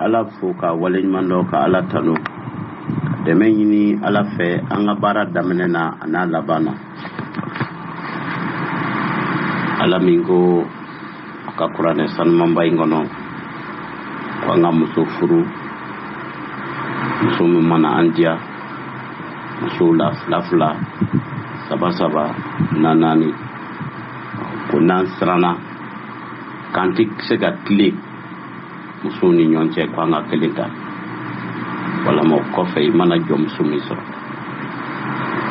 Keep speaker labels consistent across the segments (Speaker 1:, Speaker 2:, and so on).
Speaker 1: ala fo ka waleɲuman dɔn ka ala tanu ka dɛmɛ ɲini ala fɛ an ka baara daminɛ na a n'a laban na ala min ko a ka kuranɛ sanumanba in kɔnɔ ko an ka muso furu muso min mana an diya musow la fila fila saba saba na naani ko n'an siranna k'an tɛ se ka tilen musow ni ɲɔgɔn cɛ ko an ka kelen ta walama o kɔfɛ i mana jɔn muso min sɔrɔ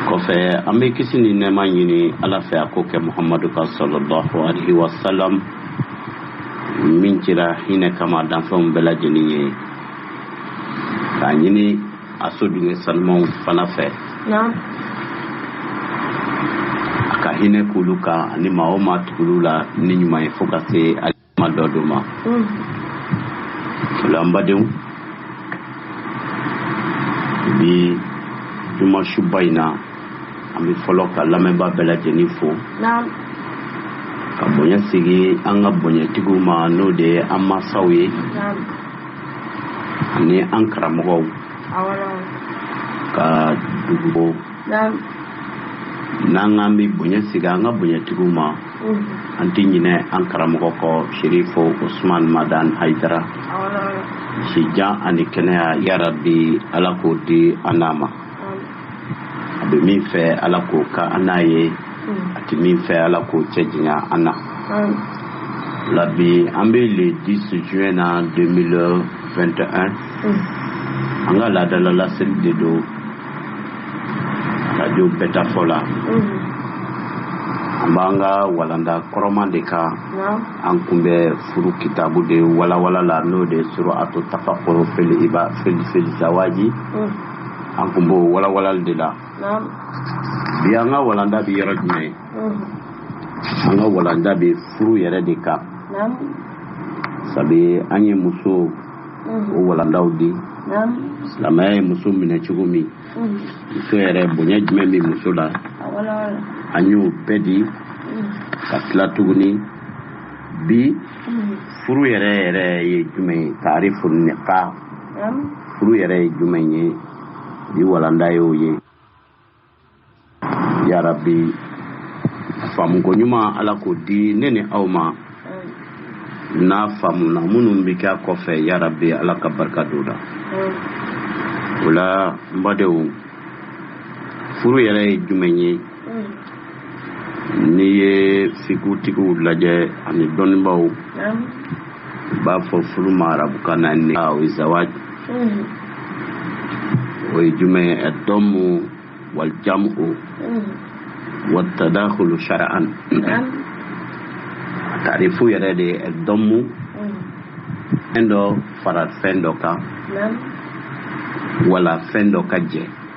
Speaker 1: kɔfɛ an bɛ kisi ni nɛɛma ɲini ala fɛ a ko kɛ muhamadu kan salalahu alayhi wasalam min cira hinɛ kama danfɛnw bɛɛ lajɛlen ye k'a ɲini a so denkɛ sanumanw fana fɛ a ka hinɛ k'olu kan ani maa o maa tugul'u la ni ɲuman ye fo ka se alima dɔ don ma mm. o la n badenw bi jumasuba in na an bɛ fɔlɔ ka lamɛnba bɛɛ lajɛlen fo ka bonya sigi an ka bonyatigiw ma n'o de ye an masaw ye ani an karamɔgɔw ka dugubo n'an k'an bɛ bonya sigi an ka bonyatigiw ma an tɛ ɲinɛ an karamɔgɔ kɔ sherifo usman madani hayidara sijan ani kɛnɛya yarabi ala k'o di an n'a ma a bɛ min fɛ ala k'o kɛ an n'a ye a tɛ min fɛ ala k'o cɛ janya an n'a la bi an bɛ le 10 juin na 2021 an ka laadala laseli de don radio bɛta fɔ la an b'an ka walanda kɔrɔman de kan an kun bɛ furu kitabu de walawala la n'o de suratu tafakuru fili iba fili fili zawaji an kun b'o walawalali de la bi an ka walanda bɛ yɔrɔ jumɛn an ka walanda bɛ furu yɛrɛ de kan sabu an ye muso o walandaw di silamɛya ye muso minɛ cogo min muso yɛrɛ bonya jumɛn bɛ muso la an y'o bɛɛ di ka tila tuguni bi furu yɛrɛ yɛrɛ ye jumɛn ye taarifu nika furu yɛrɛ ye jumɛn ye bi walanda y'o ye yarabi faamuko ɲuman ala k'o di ne ni aw ma n'a faamuna minnu bɛ kɛ a kɔfɛ yarabi ala ka barika don la o la n badenw furu yɛrɛ ye jumɛn ye n'i ye fikutigiw lajɛ ani dɔnnibaw u b'a fɔ furu ma arabukan na ni o ye zawaj o ye jumɛn ye ad-dammu wal jam'u wat tadakhulu shar'an taarifu yɛrɛ de ye ad-dammu fɛn dɔ fara fɛn dɔ kan wala fɛn dɔ ka jɛ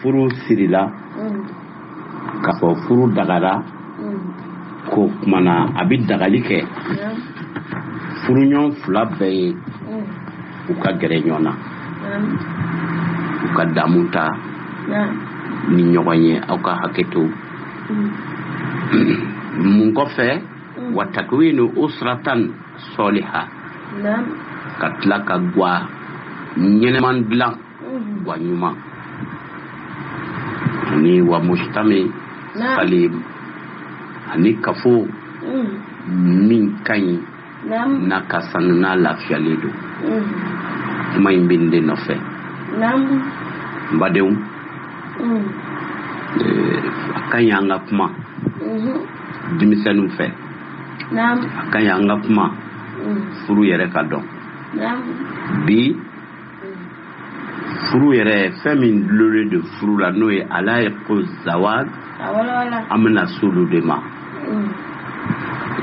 Speaker 1: furu sirila k'a fɔ furu dagara ko kumana a bɛ dagali kɛ furuɲɔgɔn fila bɛɛ ye u ka gɛrɛ ɲɔgɔn na u ka damu ta ni ɲɔgɔn ye aw ka hakɛ to mun kɔfɛ wa takwinu usratan soliha ka tila ka gwa ɲɛnɛman dilan gwa ɲuman ani wa mujtama Naam. salim ani kafo Mm. min ka ɲi Naam. n'a ka sanu n'a lafiyalen don Mm. kuma in bɛ nin de nɔfɛ Naam. n badenw Mm. eh, a ka ɲi an ka kuma Mhm. denmisɛnninw fɛ Naam. a ka ɲi an ka kuma Mm. furu yɛrɛ ka dɔn Naam. bi furu yɛrɛ fɛn min dulonnen don furu la n'o ye ala ye ko zawaj an bɛna se olu de ma mm.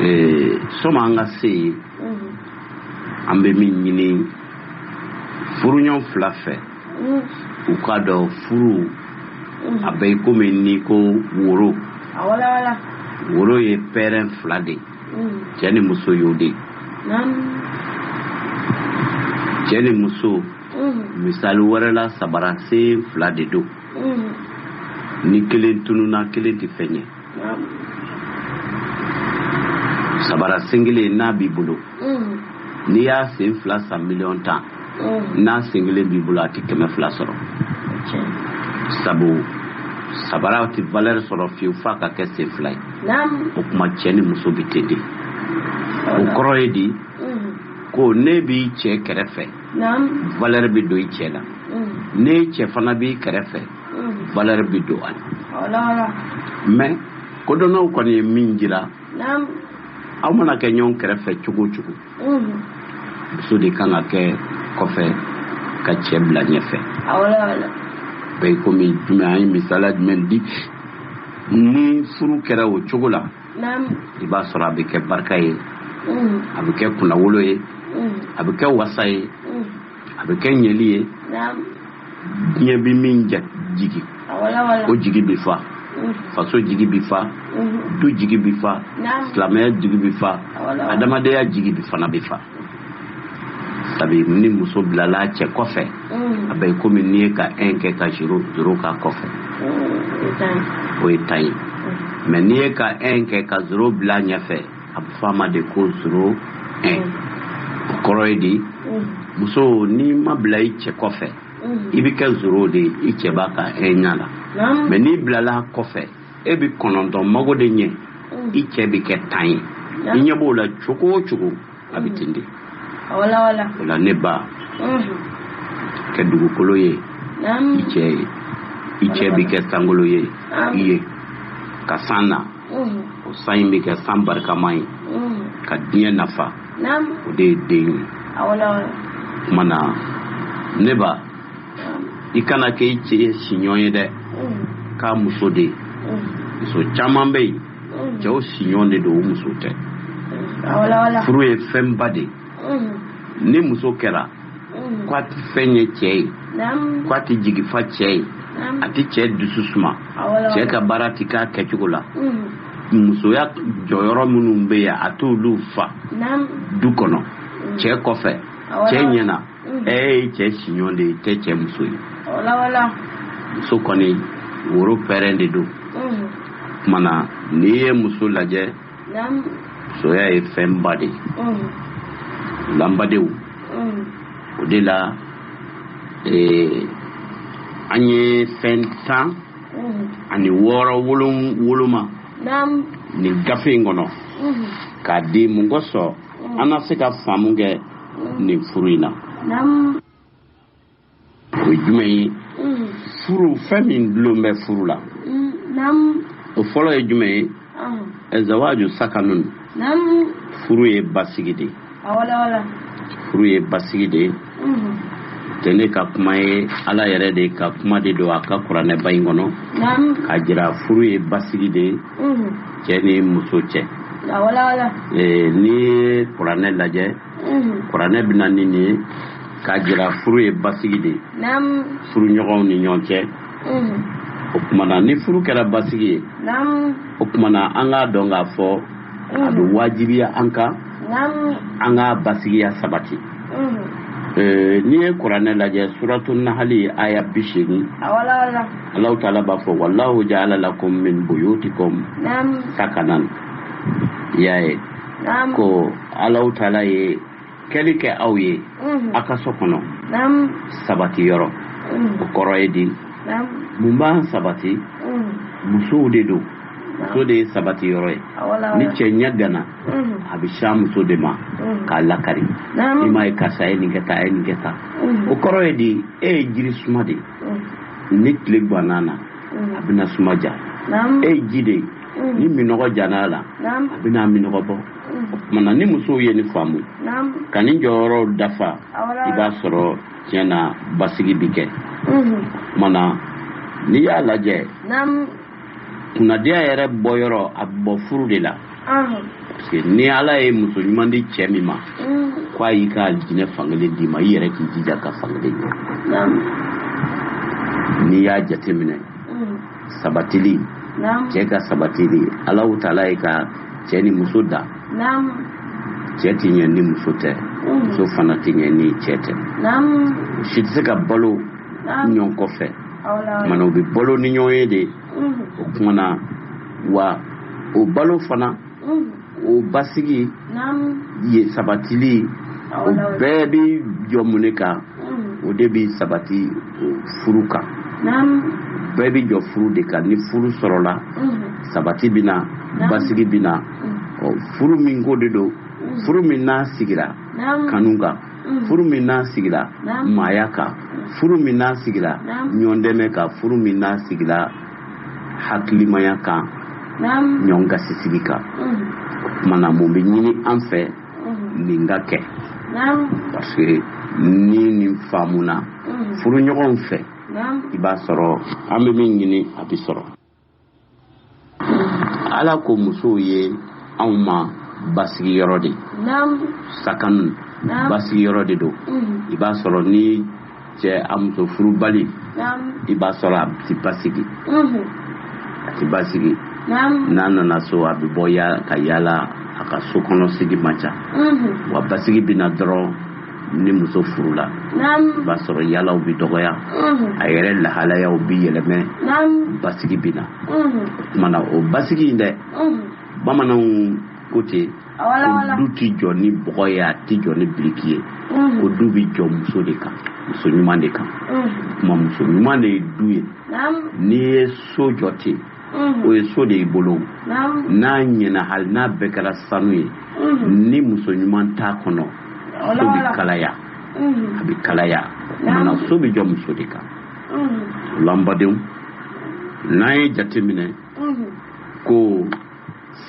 Speaker 1: eh, sani an ka se yen mm. an bɛ min ɲini furuɲɔgɔn fila fɛ mm. u k'a dɔn furu a bɛ komi n'i ko woro woro ye pɛrɛn fila de ye cɛ ni muso y'o de ye cɛ ni muso misali wɛrɛ la sabara sen fila de don ni kelen tununa kelen tɛ fɛn ye sabara sen kelen n'a b'i bolo n'i y'a sen fila san miliyɔn tan n'a sen kelen b'i bolo a tɛ kɛmɛ fila sɔrɔ sabu sabara tɛ valeur sɔrɔ fiyewu f'a ka kɛ sen fila ye o tuma cɛ ni muso bɛ ten de o kɔrɔ ye di ko n'e b'i cɛ kɛrɛfɛ valeur bɛ don i cɛ la n'i cɛ fana b'i kɛrɛfɛ valeur bɛ don a la mais kodɔnnaw kɔni ye min jira aw mana kɛ ɲɔgɔn kɛrɛfɛ cogo o cogo muso de kan ka kɛ kɔfɛ ka cɛ bila ɲɛfɛ bɛ i komi jumɛn an ye misaliya jumɛn di ni furu kɛra o cogo la i b'a sɔrɔ a bɛ kɛ barika ye a bɛ kɛ kunnawolo ye a bɛ kɛ wasa ye a bɛ kɛ ɲɛli ye diɲɛ bɛ min jigi o jigi bɛ fa faso jigi bɛ fa du jigi bɛ fa silamɛya jigi bɛ fa adamadenya jigi bɛ fana bɛ fa sabi ni muso bilala cɛ kɔfɛ a bɛ komi n'i ye ka ɛn kɛ ka zoro zoro k'a kɔfɛ o ye tan ye mɛ n'i ye ka ɛn kɛ ka zoro bila ɲɛfɛ a bɛ fɔ a ma de ko zoro ɛn o kɔrɔ ye di muso n'i ma bila i cɛ kɔfɛ i bɛ kɛ zoro de ye i cɛ b'a ka ɛnya la mɛ n'i bilala kɔfɛ e bɛ kɔnɔntɔn mago de ɲɛ i cɛ bɛ kɛ tan ye i ɲɛ b'o la cogo o cogo a bɛ ten de o la ne ba kɛ dugukolo ye i cɛ ye i cɛ bɛ kɛ sankolo ye i ye ka san na o san in bɛ kɛ san barikama ye ka diɲɛ nafa o de ye den ye kuma na ne ba i kana kɛ i cɛ siɲɔgɔn ye dɛ k'a muso de ye muso caman bɛ yen cɛw siɲɔgɔn de don o muso tɛ furu ye fɛnba de ye ni muso kɛra ko a tɛ fɛn ɲɛ cɛ ye ko a tɛ jigi fa cɛ ye a tɛ cɛ dusu suma cɛ ka baara tɛ k'a kɛcogo la musoya jɔyɔrɔ minnu bɛ yen a t'olu fa du kɔnɔ cɛ kɔfɛ cɛ ɲɛna e ye cɛ siɲɔ de ye tɛ cɛ muso ye muso kɔni woro pɛrɛn de don kumana n'i ye muso lajɛ soya ye fɛnba de ye lanbadenw o de la an ye fɛn tan ani wɔɔrɔ woloma nin gafe in kɔnɔ k'a di mun kosɔn an na se ka faamu kɛ nin furu in na o ye jumɛn ye mm. furu fɛn min dulon bɛ furu la mm, o fɔlɔ ye jumɛn ye ah. zawaju sakanun furu ye basigi de ah, furu ye basigi de ye mm-hmm. tɛ ne ka kuma ye ala yɛrɛ de ka kuma de don a ka kuranɛba in kɔnɔ k'a jira furu ye basigi de ye mm-hmm. cɛ ni muso cɛ ah, n'i ye kuranɛ lajɛ mm-hmm. kuranɛ bɛ na ni nin ye k'a jira furu ye basigi de ye furuɲɔgɔnw ni ɲɔgɔn cɛ o kumana ni furu kɛra basigi ye o kumana an k'a dɔn k'a fɔ a bɛ wajibiya an kan an k'a basigiya sabati n'i ye kuranɛ lajɛ suratu nahali aya bi seegin allahu taala b'a fɔ wallahu jaala lakum min buyutikum sakanan i y'a ye ko allahu taala ye kɛli kɛ aw ye mhm. a ka so kɔnɔ sabati yɔrɔ mhm. o kɔrɔ ye di mun b'an sabati mhm. musow de don muso de ye sabati yɔrɔ ye ni cɛ ɲɛganna a bɛ sin a muso de ma k'a lakari i m'a ye karisa ye nin kɛ tan a ye nin kɛ tan o kɔrɔ ye di e ye jiri suma de ye ni tile ganna na a bɛna suma ja e ye ji de ye ni minɔgɔ jana la a bɛna minɔgɔ bɔ mana ni musow ye nin faamu ka nin jɔyɔrɔw dafa i b'a sɔrɔ tiɲɛ na basigi bi kɛ mana n'i y'a lajɛ kunnadiya yɛrɛ bɔyɔrɔ a bɔ furu de la parce que ni ala ye muso ɲuman di cɛ min ma ko a y'i ka diinɛ fankelen d'i ma i yɛrɛ k'i jija ka fankelen ɲɛ n'i y'a jateminɛ sabatili cɛ ka sabatili alahu taala ye ka cɛ ni muso dan cɛ tɛ ɲɛ ni muso tɛ mm. muso fana tɛ ɲɛ ni cɛ tɛ si tɛ se ka balo ɲɔgɔn kɔfɛ mana u bɛ balo ni ɲɔgɔn ye de mm. o kumana wa o balo fana mm. o basigi ye sabatili o bɛɛ bɛ jɔ mun de kan o de bɛ sabati furu kan bɛɛ bɛ jɔ furu de kan ni furu sɔrɔla sabati bɛ na basigi bɛ na furu min ko de don furu min n'a sigira kanu kan furu min n'a sigira maaya kan furu min n'a sigira ɲɔndɛmɛ kan furu min n'a sigira hakilimaya kan ɲɔgɔn gasisigi kan kumana mun bɛ ɲini an fɛ nin ka kɛ parce que ni nin faamuna furuɲɔgɔnw fɛ i b'a sɔrɔ an bɛ min ɲini a bɛ sɔrɔ ala ko musow ye anw ma basigiyɔrɔ de sakanu basigiyɔrɔ de don i b'a sɔrɔ ni cɛ a muso furubali i b'a sɔrɔ a ti basigi mhm. a ti basigi n'a nana so a bɛ bɔ ka yaala a ka so kɔnɔ sigi man ca mhm. wa basigi bɛ na dɔrɔn ni muso furula i b'a sɔrɔ yaalaw bɛ dɔgɔya mhm. a yɛrɛ lahalayaw bɛ yɛlɛmɛ basigi bɛ na o kumana o basigi in dɛ bamananw ko ten o du tɛ jɔ ni bɔgɔ ye a tɛ jɔ ni biriki ye mhm. ko du bɛ jɔ muso de kan muso ɲuman de kan mhm. kuma muso ɲuman de ye du ye n'i ye so jɔ ten mhm. o ye so de y'i bolo n'a ɲɛna hali n'a bɛɛ kɛra sanu ye ni muso ɲuman t'a kɔnɔ so bɛ kalaya a bɛ kalaya mana so bɛ jɔ muso de kan o la n badenw n'an ye jateminɛ ko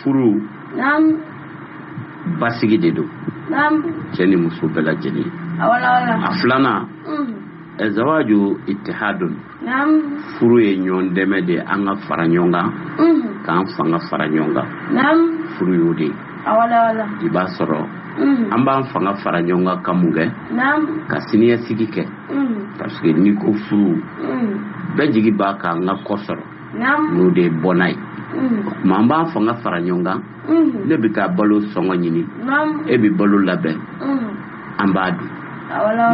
Speaker 1: furu basigi de don cɛ ni muso bɛɛ lajɛlen a filanan zawaju itihadun furu ye ɲɔgɔn dɛmɛ de an ka fara ɲɔgɔn kan k'an fanga fara ɲɔgɔn kan furu y'o de i b'a sɔrɔ an b'an fanga fara ɲɔgɔn kan ka mun kɛ ka siniɲɛsigi kɛ parce que n'i ko furu bɛɛ jigi b'a kan an ka kɔ sɔrɔ n'o de ye bɔnna ye o tuma an b'an fanga fara ɲɔgɔn kan ne bɛ taa balo sɔngɔ ɲini e bɛ balo labɛn an b'a dun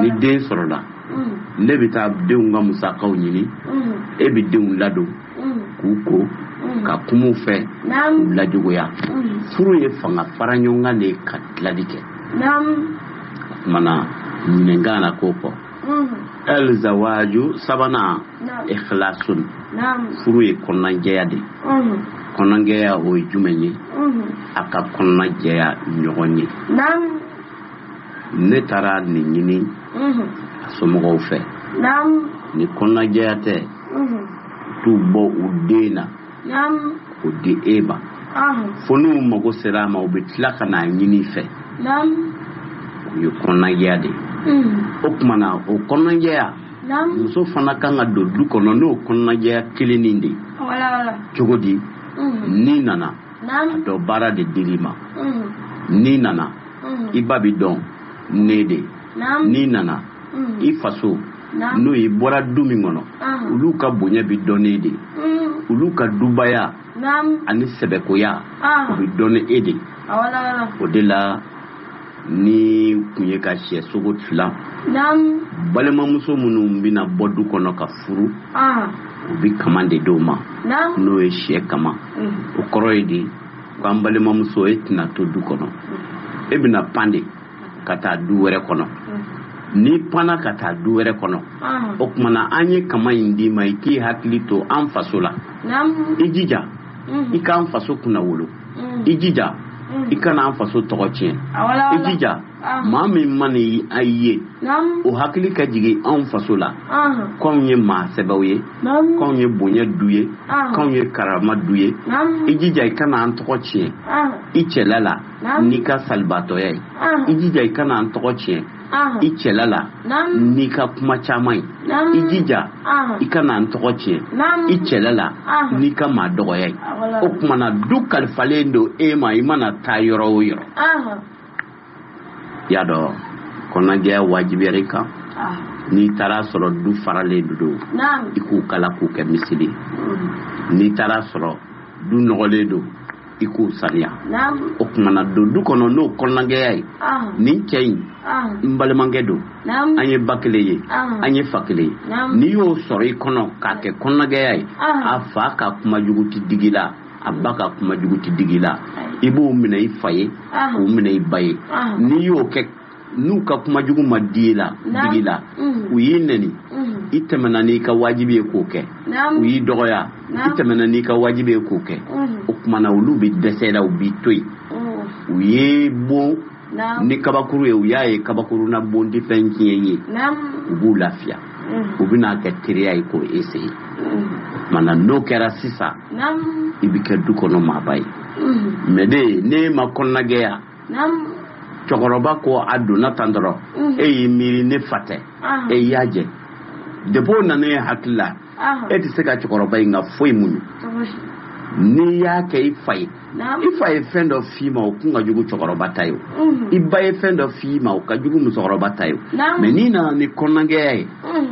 Speaker 1: ni den sɔrɔla ne bɛ taa denw ka musakaw ɲini e bɛ denw ladon k'u ko ka kum'u fɛ k'u lajogoya furu ye fanga fara ɲɔgɔn kan de ka tilali kɛ o kuma na ɲinɛnkan na k'o fɔ ɛlzawaju sabanan ikhlasun furu ye kɔnɔnajɛya de kɔnɔnajɛya o ye jumɛn ye a ka kɔnɔnajɛya ɲɔgɔn ye ne taara nin ɲini a somɔgɔw fɛ ni kɔnɔnajɛya tɛ t'u bɔ u den na o di e ma fo n'u mago sera a ma u bɛ tila ka n'a ɲini i fɛ o ye kɔnɔnajɛya de ye mm. o kuma na o kɔnɔnajɛya muso fana kan ka don du kɔnɔ n'o kɔnɔnajɛya kelennin de ye cogo di mm. n'i nana a dɔn baara de dir'i ma mm. n'i nana i ba bɛ dɔn e de n'i nana i faso n'o ye i bɔra du min kɔnɔ olu ka bonya bɛ dɔn e de mm. olu ka dubaya ani sɛbɛkoya o bɛ dɔn e de o de la ni kun ye ka sɛ sogo tila balimamuso minnu bɛna bɔ du kɔnɔ ka furu u bɛ kaman de d'u ma n'o ye sɛ kaman mm. o kɔrɔ ye de k'an balimamuso e tɛna to du kɔnɔ mm. e bɛna pan de ka taa du wɛrɛ kɔnɔ n'i panna ka taa du wɛrɛ kɔnɔ o kuma na an ye kaman in d'i ma i k'i hakili to an faso la i jija i k'an faso kunnawolo i jija i kana an faso tɔgɔ tiɲɛ i jija maa min mana i ye o hakili ka jigin anw faso la k'anw ye maa sɛbɛw ye k'anw ye bonya du ye k'anw ye karama du ye i jija i kana an tɔgɔ tiɲɛ i cɛla la n'i ka salibaatɔya ye i jija i kana an tɔgɔ tiɲɛ i cɛla la n'i ka kuma caman ye i jija i kana an tɔgɔ tiɲɛ i cɛla la n'i ka maa dɔgɔya ye o kuma na du kalifalen don e ma i mana taa yɔrɔ o yɔrɔ y'a dɔn kɔnɔnajɛya wajibiyara i kan n'i taar'a sɔrɔ du faralen don i k'u kala k'i kɛ miseli n'i taar'a sɔrɔ du nɔgɔlen don i k'o saniya o kumana don du kɔnɔ n'o kɔnɔnagɛya ye nin cɛ in n balimakɛ don an ye ba kelen ye an ye fa kelen ye n'i y'o sɔrɔ i kɔnɔ k'a kɛ kɔnɔnagɛya ye a fa ka kuma jugu tɛ digi la a ba ka kuma jugu tɛ digi la i b'o minɛ i fa ye k'o minɛ i ba ye n'i y'o kɛ n'u ka kuma jugu ma di la digi la u y'i nɛni i tɛmɛna n'i ka wajibi ye k'o kɛ u y'i dɔgɔya i tɛmɛna n'i ka wajibi ye k'o kɛ o kumana olu bɛ dɛsɛ la u b'i to yen u y'i bon ni kabakuru ye u y'a ye kabakuru na bon tɛ fɛn tiɲɛ ye u b'u lafiya u bɛna kɛ teriya ye k'o essayer mana n'o kɛra sisan i bɛ kɛ du kɔnɔ maaba ye mɛ de n'e ma kɔnɔnagɛya cɛkɔrɔba ko a donna tan dɔrɔn e y'i miiri ne fa tɛ e y'a jɛ depi o nana e hakili la e tɛ se ka cɛkɔrɔba in ka foyi muɲu n'i y'a kɛ i fa ye i fa ye fɛn dɔ f'i ma o kun ka jugu cɛkɔrɔba ta ye i ba ye fɛn dɔ f'i ma o ka jugu musokɔrɔba ta ye mɛ n'i nana ni kɔnɔnagɛya ye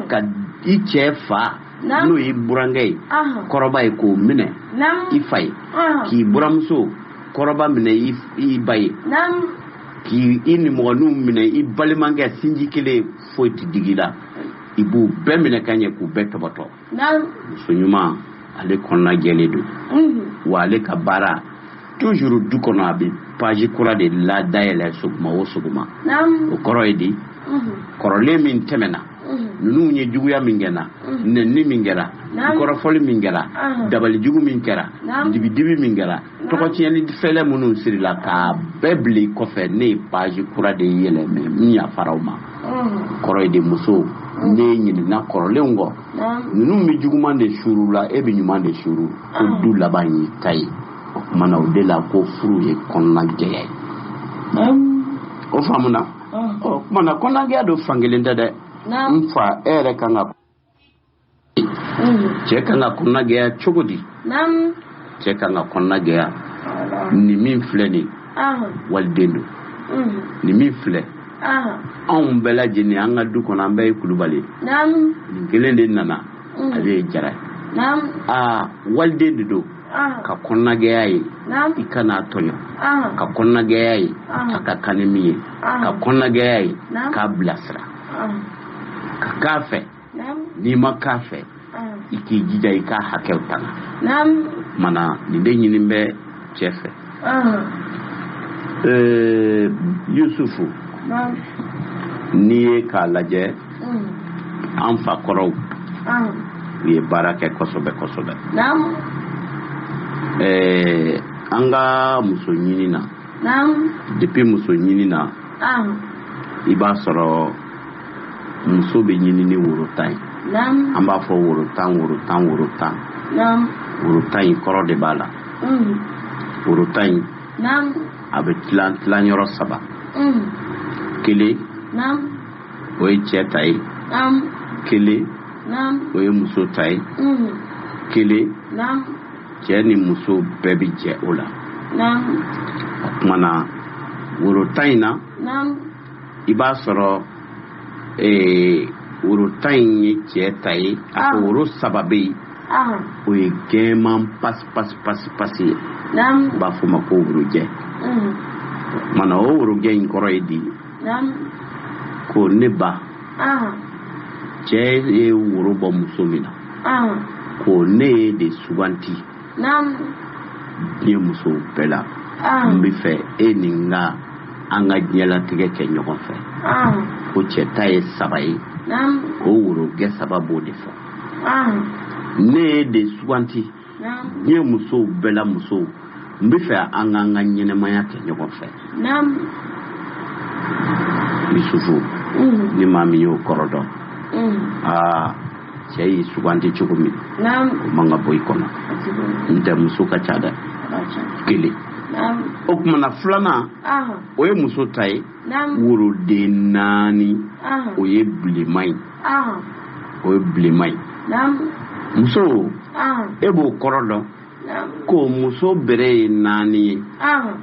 Speaker 1: ka i cɛ fa n'o y'i burankɛ ye kɔrɔba ye k'o minɛ i fa ye k'i buramuso kɔrɔba minɛ i ba ye k'i i nimɔgɔninw minɛ i balimakɛ sinji kelen ye foyi tɛ digi la i b'u bɛɛ minɛ ka ɲɛ k'u bɛɛ tɔbɔtɔ muso ɲuman ale kɔnɔna jɛlen don wa ale ka baara toujours du kɔnɔ a bɛ page kura de ladayɛlɛ sɔgɔma o sɔgɔma o kɔrɔ ye di kɔrɔlen min tɛmɛna ninnu ye juguya min kɛ n na nɛnini min kɛra kɔrɔfɔli min kɛra dabalijugu min kɛra dibidibi min kɛra tɔgɔtiɲɛni fɛlɛ minnu sirila k'a bɛɛ bil'i kɔfɛ ne ye page kura de yɛlɛmɛ n yafara o ma kɔrɔ ye di muso ne ɲinɛna kɔrɔlenw kɔ ninnu bɛ juguman de suru la e bɛ ɲuman de suru ko du laban y'i ta ye o kumana o de la ko furu ye kɔnɔnajɛya ye o faamuna o kumana kɔnɔnagɛya dun fan kelen tɛ dɛ n fa e yɛrɛ kan ka cɛ kan ka kɔnɔnagɛya cogo di cɛ kan ka kɔnɔnagɛya nin min filɛ nin waliden don nin min filɛ anw bɛɛ lajɛlen an ka du kɔnɔ an bɛɛ ye kulubali nin kelen de nana ale ye jara ye aa waliden de don ka kɔnɔnagɛya ye i kan'a tɔɲɔ ka kɔnɔnagɛya ye a ka kan ni min ye ka kɔnɔnagɛya ye k'a bilasira ka k'a fɛ n'i ma k'a fɛ i k'i jija i k'a hakɛw tanga mana nin de ɲini bɛ cɛ fɛ yusufu n'i ye k'a lajɛ an fa kɔrɔw u ye baara kɛ kosɛbɛ kosɛbɛ an ka muso ɲini na depuis muso ɲini na i b'a sɔrɔ muso bɛ ɲini ni woro tan ye an b'a fɔ woro tan woro tan woro tan woro tan in kɔrɔ de b'a la woro tan in a bɛ tilan tilan yɔrɔ saba kelen o ye cɛ ta ye kelen o ye muso ta ye kelen cɛ ni muso bɛɛ bɛ jɛ o la o kumana woro tan in na i b'a sɔrɔ ee woro tan in ye cɛ ta ye a ko woro saba bɛ yen o ye gɛman pasi pasi pasi pasi ye u b'a fɔ o ma ko worojɛ o kumana o worojɛ in kɔrɔ ye di ko ne ba cɛ ye woro bɔ muso min na ko ne y'e de suganti diɲɛ musow bɛɛ la n bɛ fɛ e ni n ka an ka diɲɛlatigɛ kɛ ɲɔgɔn fɛ ko cɛ ta ye saba ye o worogɛ saba b'o de fɔ ne y'e de suganti diɲɛ musow bɛɛ la musow n bɛ fɛ an k'an ka ɲɛnamaya kɛ ɲɔgɔn fɛ yusufu ni maa min y'o kɔrɔ dɔn aa cɛ y'i suganti cogo min o man ka bɔ i kɔnɔ ntɛ muso ka ca dɛ kelen o kumana filanan o ye muso ta ye woroden naani o ye bilenman ye o ye bilenman ye muso e b'o kɔrɔ dɔn ko muso bere ye naani ye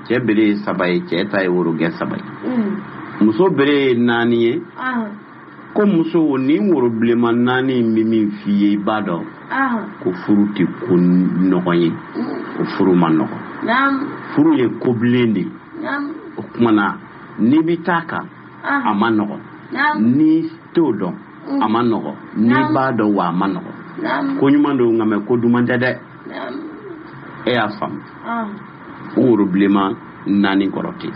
Speaker 1: cɛ bere ye saba ye cɛ ta ye worogɛ saba ye mm. muso bere ye naani ye ko muso nin woro bilenman naani in bɛ min f'i ye i b'a dɔn ko furu tɛ ko nɔgɔn ye ko furu man nɔgɔn furu ye ko bilen de ye o kumana n'i bɛ taa kan a man nɔgɔ n'i t'o dɔn a man nɔgɔ n'i b'a dɔn wa a man nɔgɔ ko ɲuman don nka mɛ ko duman tɛ dɛ e y'a faamu o woro bilenman naani kɔrɔ tɛ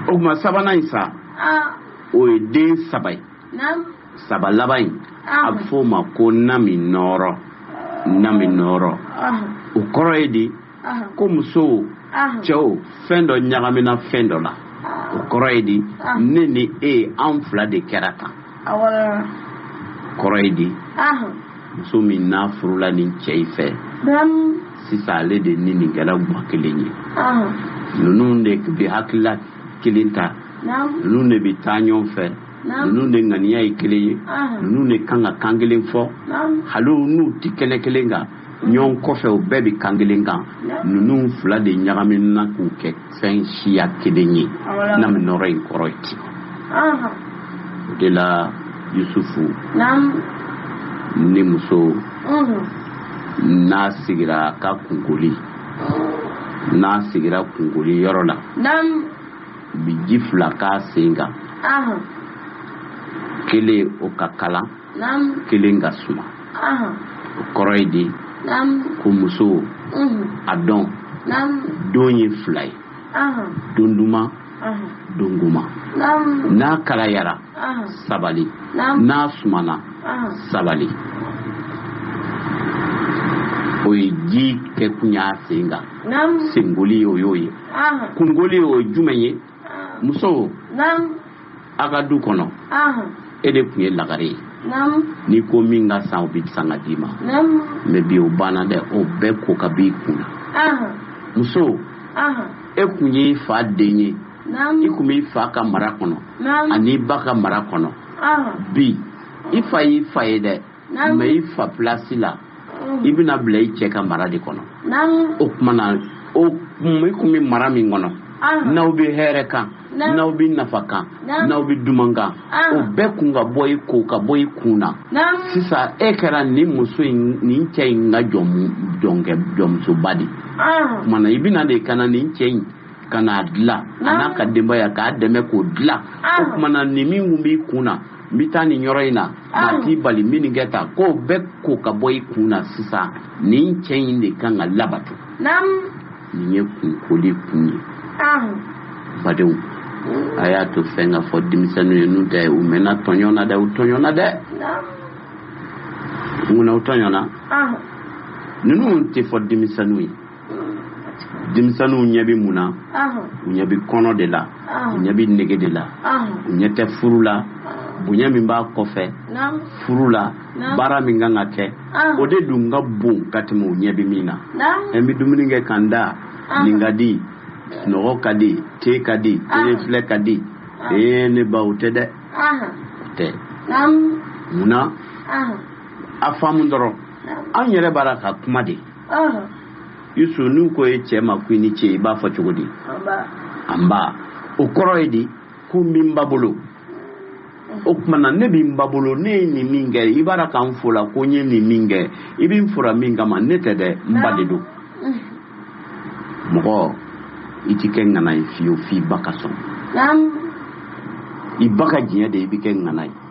Speaker 1: o kuma sabanan in sa o ye den saba ye saba laban in a bɛ f'o ma ko naminɔɔrɔ naminɔɔrɔ o kɔrɔ ye di ko muso cɛw fɛn dɔ ɲagamina fɛn dɔ la o kɔrɔ ye di ne ni e an fila de kɛra tan kɔrɔ ye di muso min n'a furula nin cɛ in fɛ sisan ale de ni nin kɛra gwa kelen ye ninnu de bɛ hakilila kelen ta ninnu de bɛ taa ɲɔgɔn fɛ ninnu de ŋaniya ye kelen ye ninnu de kan ka kan kelen fɔ hali n'u tɛ kɛnɛ kelen kan ɲɔgɔn kɔfɛ u bɛɛ bɛ kan kelen kan ninnu fila de ɲagamina k'u kɛ fɛn siya kelen ye na bɛ nɔrɔ in kɔrɔ ye ten o de la yusufu ni muso n'a sigira a ka kunkoli n'a sigira kunkoli yɔrɔ la u bɛ ji fila k'a sen kan kelen o ka kalan kelen ka suma o kɔrɔ ye di ko muso a dɔn don ye fila ye don duman don goman n'a kalayara sabali n'a sumana sabali o ye ji kɛkun y'a sen kan senkoli o y'o ye kunkoli o ye jumɛn ye muso a ka du kɔnɔ e de tun ye lagare ye n'i ko min ka san o bɛ san ka d'i ma mɛ bi o banna dɛ o bɛɛ ko ka b'i kun na muso e tun ye i fa den ye i tun b'i fa ka mara kɔnɔ an'i ba ka mara kɔnɔ bi i fa y'i fa ye dɛ mɛ i fa pilasi la mm. i bɛna bila i cɛ ka mara de kɔnɔ o tuma na o i tun bɛ mara min kɔnɔ ah. n'aw bɛ hɛrɛ kan n'aw bɛ nafa kan n'aw bɛ duman kan ah. o bɛɛ kun ka bɔ i ko ka bɔ i kun na sisan e kɛra nin muso in nin cɛ in ka jɔnmusoba de o tuma na i bɛ na de ka na nin cɛ in ka n'a dilan a n'a ka denbaya k'a dɛmɛ k'o dilan o tuma na nin min kun b'i kun na n bɛ taa nin yɔrɔ in na maa t'i bali n bɛ nin kɛ tan k'o bɛɛ ko ka bɔ i kun na sisan nin cɛ in de kan ka labato nin ye kunkoli kun ye badenw a y'a to fɛn ka fɔ denmisɛnninw ye n'o tɛ u mɛnna tɔɲɔ na dɛ u tɔɲɔna dɛ mun na u tɔɲɔna ninnu tɛ fɔ denmisɛnninw ye denmisɛnninw ɲɛ bɛ mun na u ɲɛ bɛ kɔnɔ de la u ɲɛ bɛ nege de la u ɲɛ tɛ furu la bonya min b'a kɔfɛ furu la baara min kan ka kɛ o de dun ka bon ka tɛmɛ u ɲɛ bɛ min na n bɛ dumuni kɛ ka n da nin ka di sunɔgɔ ka di te ka di tele filɛ ka di ee ne ba o tɛ dɛ o tɛ mun na a faamu dɔrɔn anw yɛrɛ b'a la ka kuma de yusu n'u ko e cɛ ma ko i ni ce i b'a fɔ cogo di anba o kɔrɔ ye di ko n bɛ n ba bolo o tuma na ne bɛ n ba bolo ne ye nin min kɛ i b'a la ka n fo la ko n ye nin min kɛ i bɛ n fora min kama ne tɛ dɛ n ba de don mɔgɔ i ti kɛ ŋana ye fiyewu f'i ba ka sɔn i ba ka diɲɛ de i bɛ kɛ ŋana ye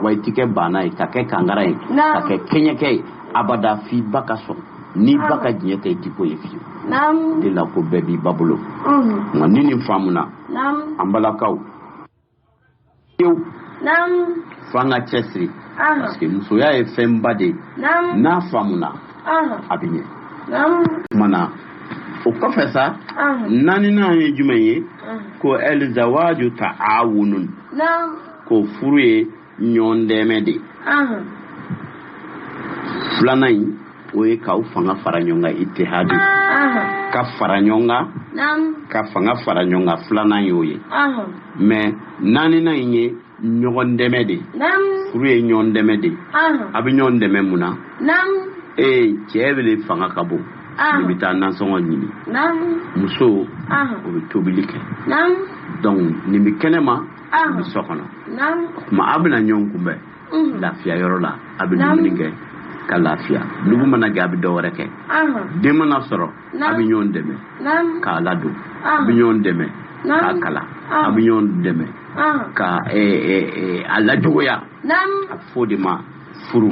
Speaker 1: wa i tɛ kɛ baana ye ka kɛ kankara ye ka kɛ kɛɲɛkɛ ye abada f'i ba ka sɔn n'i ba ka diɲɛ tɛ i tɛ ko ye fiyewu de la ko bɛɛ b'i ba bolo nka ni nin faamuna an balakaw fiyewu fo an ka cɛsiri parce que musoya ye fɛnba de ye n'a faamuna a bɛ ɲɛ kuma na o kɔfɛ sa naaninan ye jumɛn ye ko ɛlizawaju ta awunun ko furu ye ɲɔgɔn dɛmɛ de ye filanan in o ye k'aw fanga fara ɲɔgɔn kan itihadi ka fara ɲɔgɔn kan ka fanga fara ɲɔgɔn kan filanan y'o ye mais naaninan in ye ɲɔgɔn dɛmɛ de ye furu ye ɲɔgɔn dɛmɛ de ye a bɛ ɲɔgɔn dɛmɛ mun na ee cɛ de fanga ka bon nin bɛ taa nansɔngɔ ɲini muso o bɛ tobili kɛ donc nin bɛ kɛnɛ ma nin bɛ so kɔnɔ o tuma aw bɛna ɲɔgɔn kunbɛn lafiya yɔrɔ la a bɛ dumuni kɛ ka lafiya dugu mana jɛ a bɛ dɔ wɛrɛ kɛ den mana sɔrɔ a bɛ ɲɔgɔn dɛmɛ k'a ladon a bɛ ɲɔgɔn dɛmɛ k'a kalan a bɛ ɲɔgɔn dɛmɛ ka a lajogoya a bɛ fɔ o de ma furu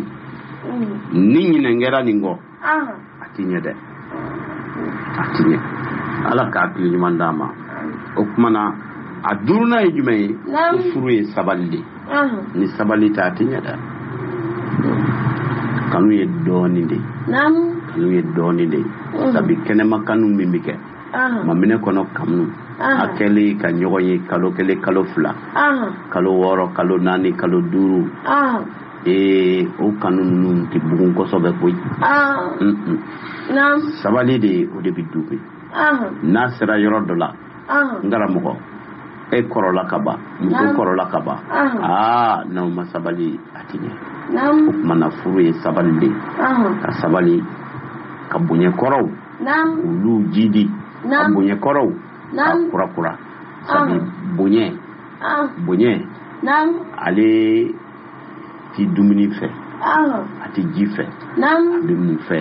Speaker 1: ni ɲinɛ kɛra nin kɔ a tɛ ɲɛ dɛ a tɛ ɲɛ ala ka hakili ɲuman d'a ma o kuma na a duurunan ye jumɛn ye ko furu ye sabali de ni sabali tɛ a tɛ ɲɛ dɛ kanu ye dɔɔnin de kanu ye dɔɔnin de sabu kɛnɛma kanu min bɛ kɛ maminɛ kɔnɔ kanu a kɛlen ka ɲɔgɔn ye kalo kelen kalo fila kalo wɔɔrɔ kalo naani kalo duuru ee o kanu ninnu tɛ bugun kosɛbɛ koyi sabali de o de bɛ du bɛn n'a sera yɔrɔ dɔ la n karamɔgɔ e kɔrɔla ka ban muso kɔrɔla ka ban aa n'aw ma sabali a tɛ ɲɛ o tumana furu ye sabali de ye ka sabali ka bonya kɔrɔw olu jidi ka bonya kɔrɔw ka kurakura sabu bonya bonya ale ti dumuni fɛ a ti ji fɛ a bɛ mun fɛ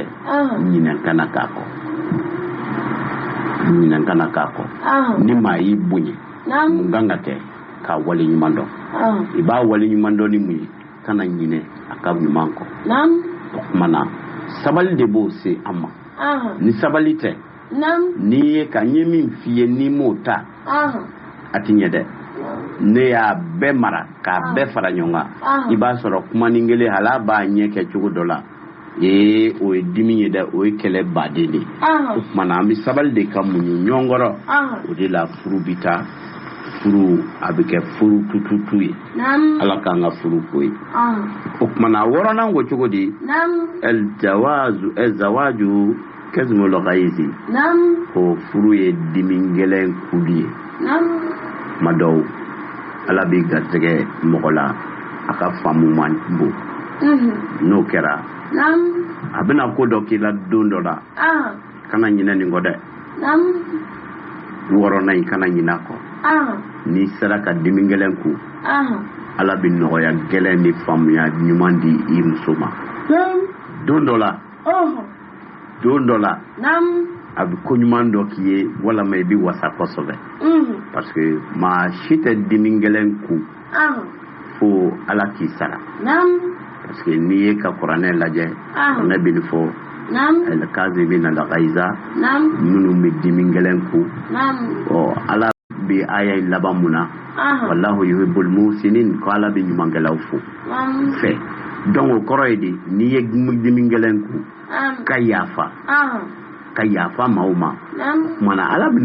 Speaker 1: ɲinɛ kana k'a kɔ ɲinɛ kana k'a kɔ ni maa y'i bonya mun kan ka kɛ k'a wale ɲuman dɔn i b'a wale ɲuman dɔn ni mun ye kana ɲinɛ a ka ɲuman kɔ o kuma na sabali de b'o se an ma ni sabali tɛ n'i ye ka n ye min f'i ye n'i m'o ta a ti ɲɛ dɛ ne y'a bɛɛ mara k'a ah. bɛɛ fara ɲɔgɔn kan ah. i b'a sɔrɔ kumanin kelen hal'a b'a ɲɛ kɛ cogo dɔ la ee o ye dimi ye dɛ o ye kɛlɛ baden de ye ah. o kuma na an bɛ sabali de ka muɲu ɲɔgɔn kɔrɔ o de la furu bɛ taa furu a bɛ kɛ furu tututu ye ala k'an ka furu k'o ye o kuma na wɔɔrɔnan ko cogo di ɛl jawazu ɛl zawaju kazmul ghaizi ko furu ye dimi gɛlɛn kunli ye kuma dɔw ala b'i garisɛgɛ mɔgɔ la a ka faamu man bon mhm. n'o kɛra a bɛna ko dɔ k'i la don dɔ la ah. kana ɲinɛ nin kɔ dɛ wɔɔrɔnan in kana ɲinɛ a kɔ ah. n'i sera ka dimi gɛlɛn kun ah. ala bɛ nɔgɔya gɛlɛn ni faamuya ɲuman di i muso ma don dɔ la don dɔ la a bɛ ko ɲuman dɔ k'i ye walima i bɛ wasa kosɛbɛ parce que maa si tɛ dimi gɛlɛn kun fo ala k'i sara parce que n'i ye ka kuranɛ lajɛ kuranɛ bɛ nin fɔ al-kazimina al-ghaiza minnu bɛ dimi gɛlɛn kun ɔ ala bɛ aya in laban mun na wallahu yuhibbul muhsinin ko ala bɛ ɲumankɛlaw fo fɛ donc o kɔrɔ ye de n'i ye dimi gɛlɛn kun ka yafa ka yafa maaw ma kuma na ala bɛna